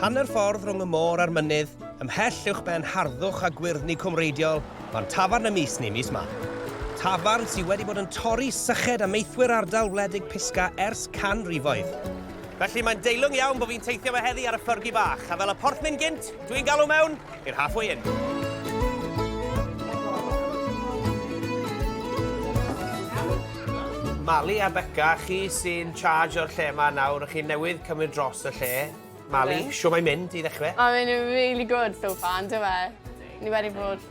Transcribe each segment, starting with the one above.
Hanner ffordd rhwng y môr a'r mynydd, ymhell uwch ben harddwch a gwyrddni cwmreidiol, fan tafarn y mis neu mis ma. Tafarn sydd wedi bod yn torri syched a meithwyr ardal wledig Pisga ers canrifoedd. Felly mae'n deilwng iawn bod fi'n teithio fe heddi ar y ffyrgi bach, a fel y porthmyn gynt, dwi'n galw mewn Yr Halfway Inn. Mali a Beca, chi sy'n charge o'r lle yma nawr, a chi newydd cymryd dros y lle. Mali, shwt mae'n mynd i ddechrau? Mae'n mynd yn really good so far, yn dyw e? Ni wedi bod...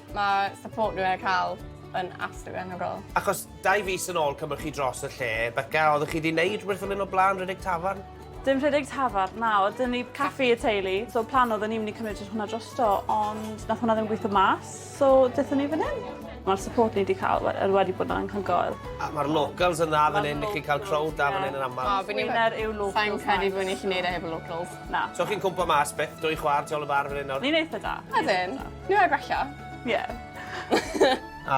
Mae support nhw wedi cael yn absolutely anhygoel. Achos dau fis yn ôl cymryd chi dros y lle, Beca, oeddech chi 'di wneud rhywbeth fel hyn o'r blaen, rhedeg tafarn? Dim rhedeg tafarn, na, oedd dyn ni caffi y teulu. So plan oedd ni'n mynd i cymryd hwnna drosto, ond nath hwnna ddim gweithio mas, so dethon ni fan hyn. Mae'r support ni wedi cael er wedi bod yn anhygoel. A mae'r locals yn dda fan hyn, i chi cael crowd da fan hyn yn aml. O, fi'n Wynner yw locals. Sa'n credu bod ni'n gallu neud e heb y locals. Na. So chi'n cwmpa mas byth, dwy chwar, tu ôl y bar fan hyn nawr? Ni'n eitha da. Ydyn. Ni'n rhaid gwella. Ie.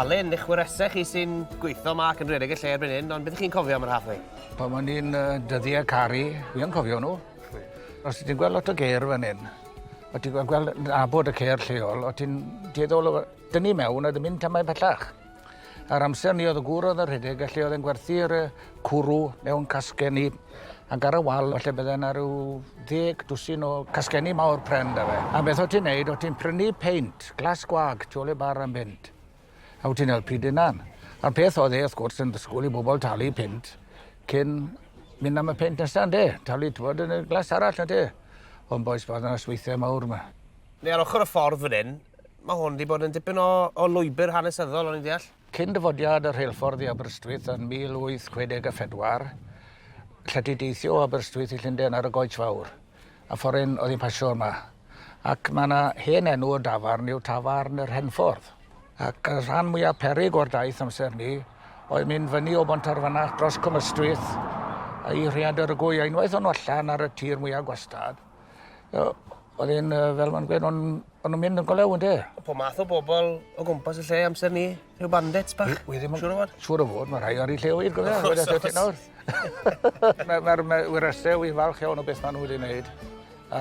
Alun, eich wyresau chi sy'n gweithio yma ac yn rhedeg y lle erbyn hyn, ond beth chi'n cofio am yr halfway? Pan o'n i'n yy dyddie caru, fi yn cofio nw. Os ti'n gwel' lot o gêr fan 'yn, o' ti'n gwel' gweld yn nabod y cêr lleol, o' ti'n dueddol o dynnu i mewn a ddim mynd tamaid pellach. A'r amser 'ny o'dd y gŵr o'dd yn rhedeg y lle o'dd e'n gwerthu'r yy cwrw mewn casgenni ac ar y wal falle bydde 'na ryw ddeg dwsin o casgenni mawr pren 'da fe. A beth o' ti'n neud o' ti'n prynu peint glas gwag tu ôl i'r bar am bunt. a wyt ti'n helpu dy hunan. A'r peth oedd e, wrth gwrs, yn dysgwyl i bobl talu pint cyn mynd am y pint nesaf, ynddi? Talu, ti'n bod, yn y glas arall, ynddi? Ond boes, bod yna sweithiau mawr yma. Neu ar ochr y ffordd fan hyn, mae hwn wedi bod yn dipyn o, o lwybr hanesyddol, o'n i'n deall? Cyn dyfodiad y rheilffordd i Aberystwyth yn 1864, lle ti deithio o Aberystwyth i Llundain ar y Goets Fawr, A foreign oedd hi'n pasio yma. Ac mae yna hen enw y dafarn yw Tafarn yr Henffordd. Ac y rhan mwyaf perig o'r daith amser ni oedd mynd fyny o Bontarfanach dros Cwmystwyth a i Rhiadr y Gwy. A unwaith o'n nhw allan ar y tir mwyaf gwastad, oedd e'n, fel mae'n gweud, o'n nhw'n mynd yn golew, ynde? Pob math o bobl o gwmpas y lle amser ni. Rhyw bandits bach? Wi ddim yn siŵr o fod. Siŵr o fod, mae rhai ar ei lle wir, gwybod? Wrth gwrs, wrth nawr. Mae'r ma, ma wrestau, wi'n falch iawn o beth maen nhw wedi wneud.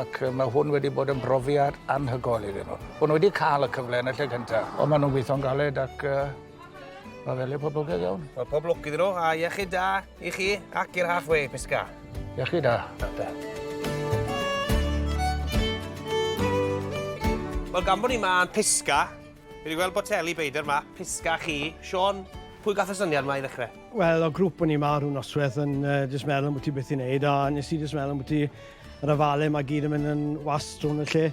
Ac mae hwn wedi bod yn brofiad anhygoel iddyn nhw. Bod nhw wedi cael y cyfle yn y lle cyntaf. Ond maen nhw'n gweithio'n galed ac uh, mae fel ei poblogaidd iawn. Wel, pob lwc iddyn nhw, a iechyd da i chi ac i'r halfway, Pisca. Iechyd da. Da, da. Wel, gan bod ni yma yn Pisca, Fi wedi gweld boteli beidr 'ma. Pisgah chi. Siôn, pwy gath y syniad 'ma i ddechrau? Wel, o grwp o'n i 'ma rhyw nosweth yn yy jyst meddwl ambwti beth i wneud a nes i jyst meddwl ambwti yr ofale 'ma gyd yn mynd yn wast rownd y lle.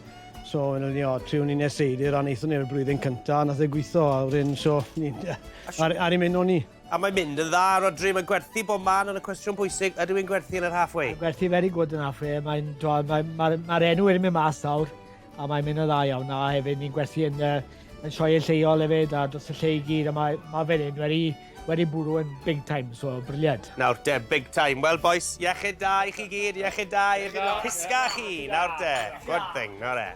So wedyn ni o triwn ni neud seidr a neithon ni'r blwyddyn cynta a nath e gwitho a wedyn so ni'n yy ar ar i myn' o ni. A mae'n mynd yn dda, Rhodri, mae'n gwerthu bob man ond y cwestiwn bwysig, ydyw e'n gwerthu yn yr half way? Mae'n gwerthu very good yn half way, mae'n t'wod mae'n ma'r ma'r enw wedi mynd mas nawr. A mae'n mynd yn dda iawn a hefyd ni'n gwerthu yn y yn sioeau lleol hefyd a dros y lle i gyd a mae ma' fe'n hyn wedi wedi bwrw yn big time so briliant. Nawr de, big time. Wel bois, iechyd da i chi gyd, iechyd da i chi. Hysga chi, nawr de. Good thing, nawr e.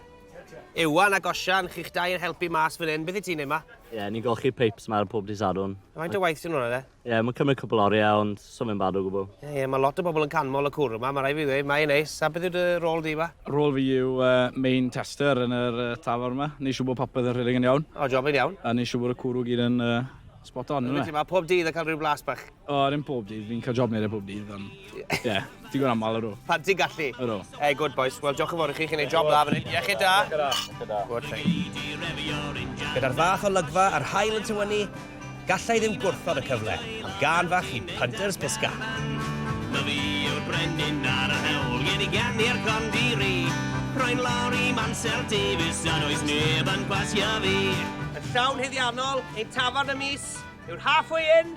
Iwan ac Osian, chi'ch dau yn helpu mas fan hyn. Beth i ti'n neud ma? Ie, ni'n golchi peips ma ar pob dydd Sadwrn. Faint o waith sy'n hwnna de? Ie, yeah, mae'n cymryd cwpl oriau, ond so fe'n bad o gwbl. Ie, yeah, yeah, mae lot o bobl yn canmol y cwr yma, mae rhaid fi ddweud, mae'n neis. A beth yw dy rôl di yma? Rôl fi yw uh, main tester yn yr uh, tafar yma. Ni siw bod popeth yn rhedeg yn iawn. O, job yn iawn. A ni siw bod y cwrw gyd yn uh, spot on. Yna. Mae pob dydd yn cael rhyw blas bach. O, ddim pob dydd, fi'n cael job neud e pob dydd, ond... Ie. Yeah. Digon aml, ydw. Pan ti'n gallu? Ydw. Hey, good boys. Wel, diolch yn fawr i chi, chi'n ei job dda fan hyn. Iechyd da. Iechyd da. Iechyd da. Good thing. Gyda'r fath o lygfa a'r hael yn tywynnu, gallai ddim gwrthod y cyfle am gan fach i Punters Pisca. Na fi yw'r brenin ar y hewl, gen i gan i'r condiri. Rwy'n lawr i Mansell Davies a does neb yn pasio fi. Yn llawn huddiannol, ein tafarn y mis yw'r Halfway Inn,